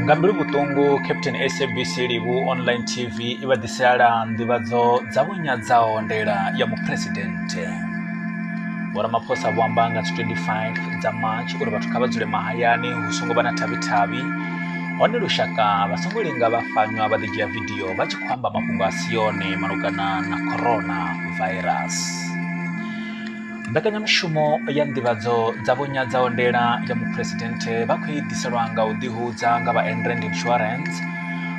nga mbilu vhuṱungu captain sabc livhu online tv i vha ḓiseala nḓivhadzo dza vhunyadzaho ndela ya muphuresidennde vhoramaphosa vho amba nga dzi 25 dza march uri vhathu kha vha dzule mahayani hu songo vha na thavhi-thavhi hone lushaka vha songo linga vha fanywa vha ḓidzhia vidio vha tshi khou amba mafhungo a si yone malugana na corona virus Mbekanyamushumo ya nḓivhadzo dza vho nyadza ondela ya muphuresidenthe vha khou i ḓiselwa nga u ḓihudza nga vha Enrand Insurance.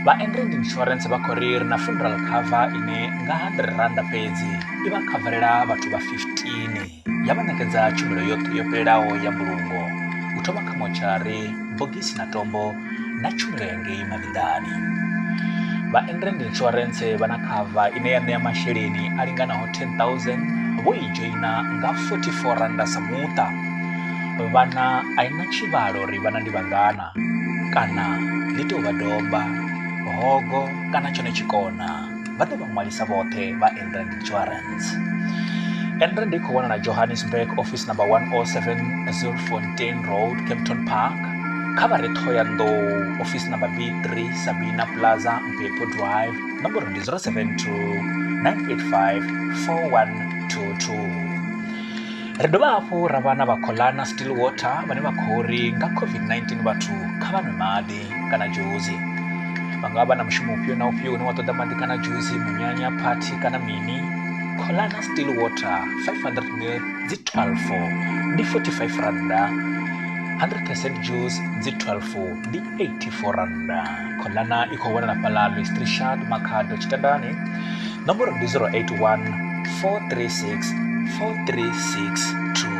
Vha Enrand Insurance vha khou ri ri na funeral cover ine nga R100 fhedzi i vha khavarela vhathu vha 15 ya vha ṋekedza tshumelo yoṱhe yo fhelelaho ya mbulungo u thoma kha motshari, bogisi na tombo na tshumelo ya ngei mavhiḓani vha endrand insurance vha na khava ine ya ṋea masheleni a linganaho 10000 vho i dzhoina nga 44 randa sa muṱa vhana a i na tshivhalo uri vhana ndi vhangana kana ḽi tou vha domba hogo kana tshone tshikona vha ḓe vha ṅwalisa vhoṱhe vha enrand insurance enrand i khou wanala johannesburg office number 107 zilfontain road capton park kha vha re thoyandou office number b3 sabina plaza mpepo drive nomboro ndi 072 985 4122 ri dovha hafhu ra vha na vhakholana still water vhane vha khou ri nga covid-19 vhathu kha vha nwe maḓi kana dzhusi vha nga vha na mushumo ufhio na ufhio une wa ṱoḓa maḓi kana dzhusi munyanya phathi kana mini kholana still water 500 ml dzi 12 ndi 45 randa 100 percent juice dzi 12 ndi 84 randa kholana i khou wanala fhaḽa lwestri shard makhado tshitandani Nomboro ndi 081 436 4362.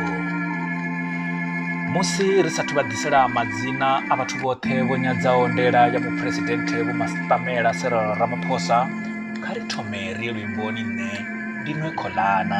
Musi ri sathu vha ḓisela madzina a vhathu vhoṱhe vho nyadzaho ndela ya muphuresidenthe Vho Mastamela Cyril Ramaphosa, kha ri thome ri ye luimboni nṋe ndi nwe kholana.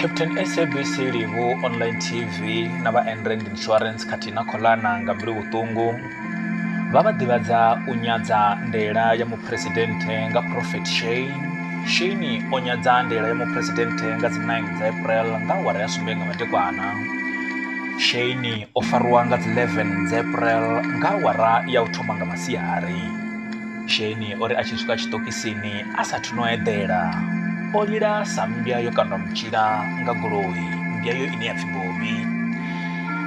captain sabc livu online tv na vha enrand insurance khathihi na kholana nga mbilu vhuṱungu vha vha ḓivhadza u nyadza ndela ya muphuresidennde nga prophet shane shane o nyadza ndela ya muphuresidennde nga dzi 9 dza april nga awara ya sumbe nga madekwana shane o fariwa nga dzi 11 dza april nga awara ya u thoma nga masiari Sheni o ri a tshi swika tshiṱokisini a sa thu no eḓela o lila sa mmbya yo kandwa mutshila nga goloi mmbya yo ine ya pfhi bobi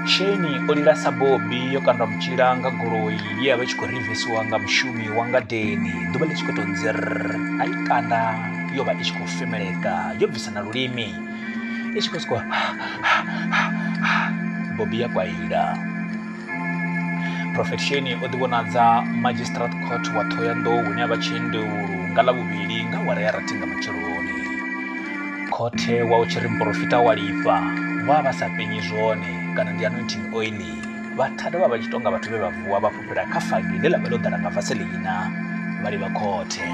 sheni o lila sa bobi yo kandwa mutshila nga goloi ye ya vha tshi khou rivisiwa nga mushumi wa ngadeni ḓuvha ḽi tshi khou tou nzir a i kanda yo vha i tshi khou femeleka yo bvisa na lulimi i tshi khou sokou bobi ya kwaila prophet sheni o ḓivhonadza magistrate court wa thohoyanḓou hune a vha tshiendeulu nga ḽa vhuvhili nga wara ya rathi nga matsheloni khothe wa u tshi ri muporofita wa lifha vha vha sa penyi zwone kana ndi anointing oili vhathada vha vha tshi tonga vhathu vhe vha vuwa vha fhufhela kha fagi ḽe ḽa vha ḽo ḓala nga vaseleina vha livha khothe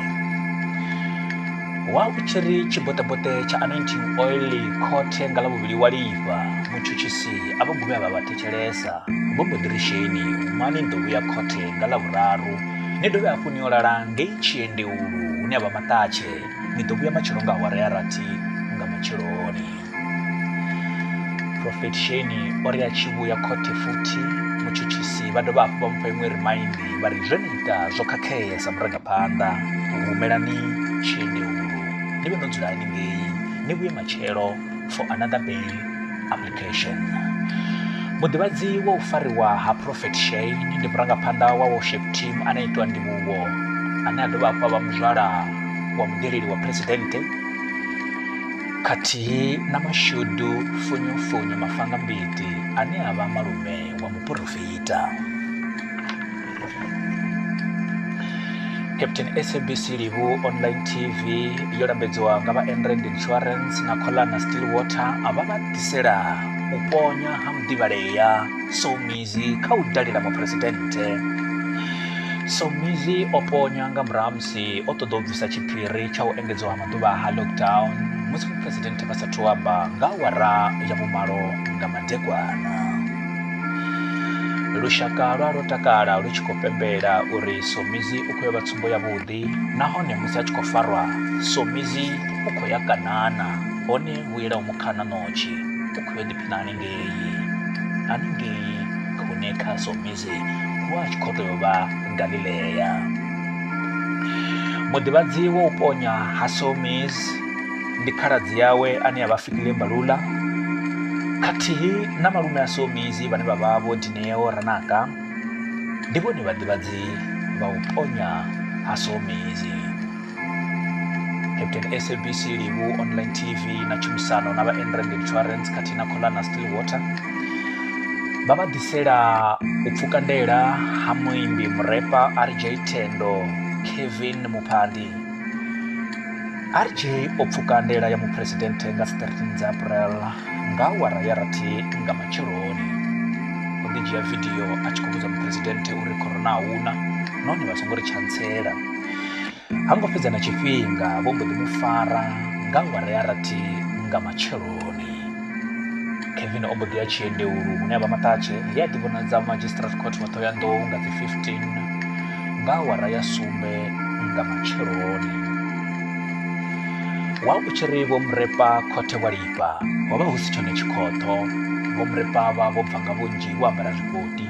wa u tshi ri tshiboṱeboṱe tsha anointing oili khothe nga ḽa vhuvhili wa lifha mutshutshisi a vha guvhe a vha vhathe thetshelesa vho mbo ḓi ri sheni mani ni ḓo vhuya khothe nga ḽa vhuraru ni dovhe hafhu ni yo lala ngei tshiendeulu hune a vha maṱatshe ni ḓo vhuya matshelo nga awara ya rathi nga matsheloni profet sheni o ri a tshi vhuya khothe futhi mutshutshisi vha dovha hafhu vha mupha iṅwe rimaindi vha ri zwe ni ita zwo khakhea sa murangaphanḓa humelani tshiendeulu ni vhe no dzula haningei ni vhuye matshelo for another bail Education. Muḓivhadzi wa u fariwa ha Prophet Shane ndi murangaphanḓa wa worship team ane itwa ndivhuwo ane a dovha hafhu a vha muzwala wa mudeleli wa phuresidennde khathihi na mashudu funyofunyo mafanga mbiti ane a vha malume wa muporofita. captain sabc livu online tv yo lambedziwa nga vha enrand insurance na colana still water a vha vha ḓisela u ponya ha muḓivhalea somizi kha u dalela muphuresidennde somizi o ponya nga murahu musi o ṱoḓa u bvisa tshiphiri tsha u engedziwa ha maḓuvha ha lockdown musi muphuresidennde vha sathu amba nga awara ya vhumalo nga madekwana lushaka lwa lwo takala lu tshi khou pembela uri somizi u khou ya vha tsumbo yavhuḓi nahone musi a tshi khou farwa somizi u khou ya kanana hone vhuela u mukhana notshi u khou yo ḓiphina haningei haningei hune kha somizi hu a tshi khou tou vha galilea muḓivhadzi wa u ponya ha somizi ndi khaladzi yawe ane a vha Fikile Mbalula khathihi na malume a Somizi vhane vha vha vho Dineo Ranaka ndi vhone vhaḓivhadzi vha u ponya ha Somizi. Captain SABC Livu Online TV na tshumisano na vha Enrand Insurance khathihi na Kholana Stillwater vha vha ḓisela u pfuka ndela ha muimbi murepa RJ Thendo Kevin Muphandi RJ o pfuka ndela ya muphuresidenthe nga 13 dza April nga awara ya rathi nga matsheloni. O ḓi dzhia vidio a tshi khou vhudza muphuresidenthe uri corona a huna nahone vha songo ri tshantsela. Ha ngo fhedza na tshifhinga vho mbo ḓi mu fara nga awara ya rathi nga matsheloni. kevin o mbo ḓi ya tshiendeulu hune a vha maṱatshe he a ḓivhonadza magistrate court wa ṱhohoyanḓou nga dzi 15 nga awara ya sumbe nga matsheloni wa u tshi ri vho murepa khothe wa lifha ho vha hu si tshone tshikhoṱho vho murepa vha vho bva nga vhunzhi vho ambara zwikoti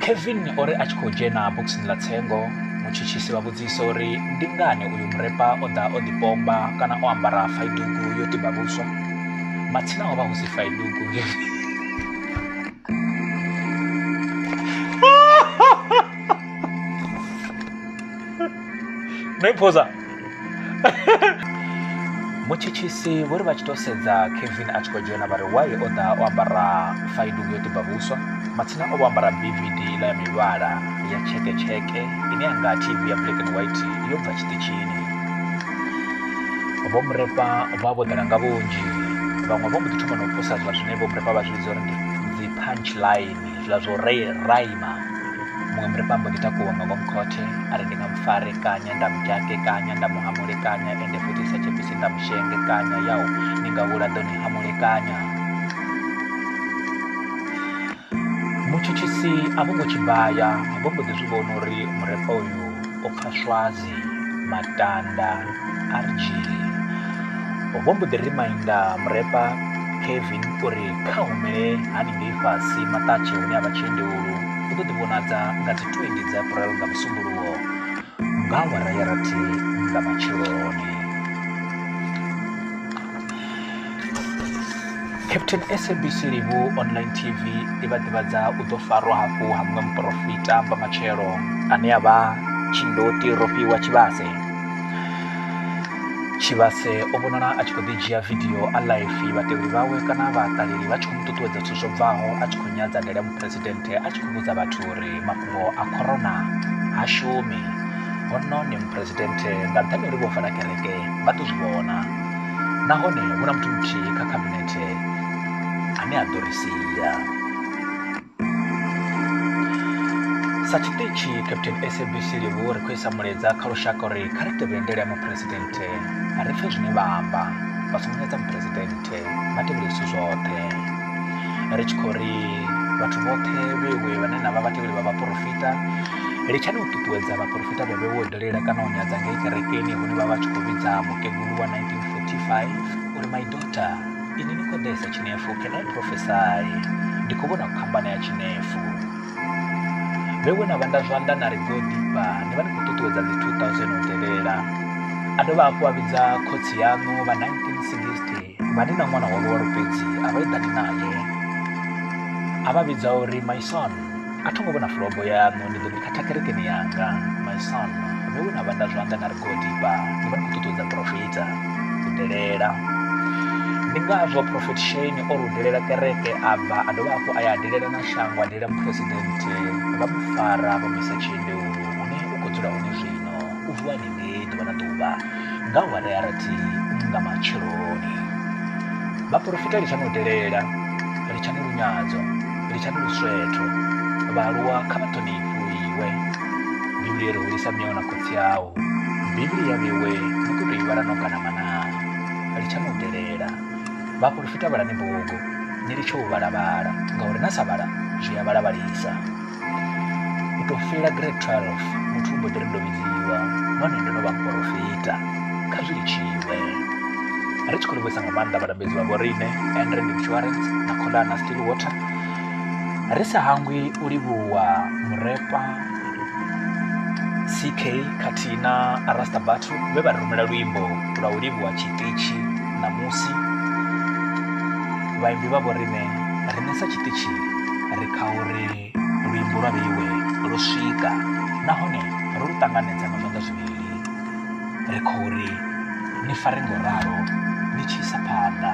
Kevin o ri a tshi khou dzhena bokisini ḽa tsengo mutshutshisi vha vhudzisa uri ndi ngani uyu murepa o ḓa o ḓipomba kana o ambara faidugu yo tiba vhuswa matsina ho vha hu si faidugu no i phosa mutshitshisi vho ri vha tshi tou sedza kevin a tshi khou dzhena vha ri wai o ḓa o ambara faidungu yo tiba vhuswa matsina o vho ambara bvd iḽa ya mivhala ya tsheketsheke ine ya nga tv ya black and white yo bva tshiṱitshini vho murepa vha vho ḓala nga vhunzhi vhaṅwe vho mbo ḓi thoma na u posa zwa zwine vho murepa vha zwi vhidza uri ndi dzi punch line zwiḽa zwo ri raima muṅwe murifha mbo ḓi takuwa nga ngomu khothe a ri ndi nga mufare kanya nda mudzhake kanya nda muhamule kanya ende futhi sa tshepisi nda mushenge kanya yau ni nga vhula ḓo ni hamule kanya mutshutshisi a vho ngo tshibaya a vho mbo ḓi zwi vhona uri murefha uyu o pfha swazi matanda rg vho mbo ḓi rimainda murepa kevin uri kha humele haningei fhasi maṱatshe hune a vha tshiendewulu u ḓo ḓivhonadza nga dzi 20 dza april nga musumbuluwo nga awara ya rathi nga matsheloni Captain SABC Livhu Online TV i vha ḓivhadza u ḓo farwa hafhu ha muṅwe muporofita vha matshelo ane a vha tshindoti rofhiwa tshivhase tshivhase o vhonala a tshi khou ḓi dzhia vidio a laifi vhatevheli vhawe kana vhaṱaleli vha tshi khou mu ṱuṱuwedza zwithu zwo bvaho a tshi khou nyadza ndele muphuresidennde a tshi khou vhudza vhathu uri mafhungo a corona ha shumi hono ni muphuresidennde nga nṱhani uri vho vala kereke vha ḓo zwi vhona nahone hu na muthu muthihi kha khabinethe ane a ḓo ri sia sa tshiṱitshi captain sabc livhu ri khou isa mulaedza kha lushaka uri kha ri tevhele ndele ya muphuresidenthe ri pfe zwine vha amba vha songo nyadza muphuresidenthe vha tevhele zwithu zwoṱhe ri tshi khou ri vhathu vhoṱhe vhewe vhane na vha vhatevheli vha vhaporofita litshani u ṱuṱuwedza vhaporofita vhe vhe wo dalela kana u nyadza ngei kerekeni hune vha vha tshi khou vhidza mukegulu wa 1945 uri my daughter ini ni khou ḓesa tshinefu can i prophesy ndi khou vhona phambano ya tshinefu vhe we na vhanda zwanḓa na ri go ḓifha ni vha ni khou ṱuṱuwedza dzi 2000 u tevhela a dovha hafhu a vhidza khotsi yaṋu vha 1960 vha ni na ṅwana wa luwalo fhedzi a vha eḓani naye a vha vhidza uri my son a tho ngo vhona fulobo yaṋu ndi ḓo ni khatha kerekeni yanga my son ndo we na vhanda zwanḓa na ri godipa ni vha ni khou ṱuṱuwedza profita u delela ndi ngazwo profet shane o rudelela kereke a bva a dovha hafhu a ya delela na shango a delela muphuresidenthe vha mu fara vha mu isa tshiendeu hune u khou dzula hone zwino u vuwa ni nge ḓuvha na ḓuvha nga awara ya rathi nga matsheloni vhaporofita ri tshani u delela ri tshani lunyadzo ri tshani luswetho vhaaluwa kha vha ṱhonifhu iwe bivhili yo ri hulisa miyawu na khotsi awu bivhili ya vhiwe ni khou tou i vhala no kana manaa ri tshani u delela vhaporofita vhalani bugu ni litshe u vhalavhala ngauri na sa vhala zwi a vhalavhalisa U tou fhela grade 12 muthu u mbo ḓi ri ndo vhidziwa nahone ndo no vha muporofita kha zwi litshiwe ri tshi khou livhuisa nga maanḓa vhalambedzi vha vhoriṋe andrend insurance na kholana still water ri sa hangwi u livhuwa murepa ck khathihi na arasta batho vhe vha ri rumela luimbo lwa u livhuwa tshiṱitshi ṋamusi vhaimbi vha vhoriṋe ri nesa tshiṱitshi ri kha uri luimbo lwa vheiwe lwo swika nahone ro lu ṱanganedza nga zwanḓa zwivhili ri khou ri ni fare ngo ralo ni tshi isa phanḓa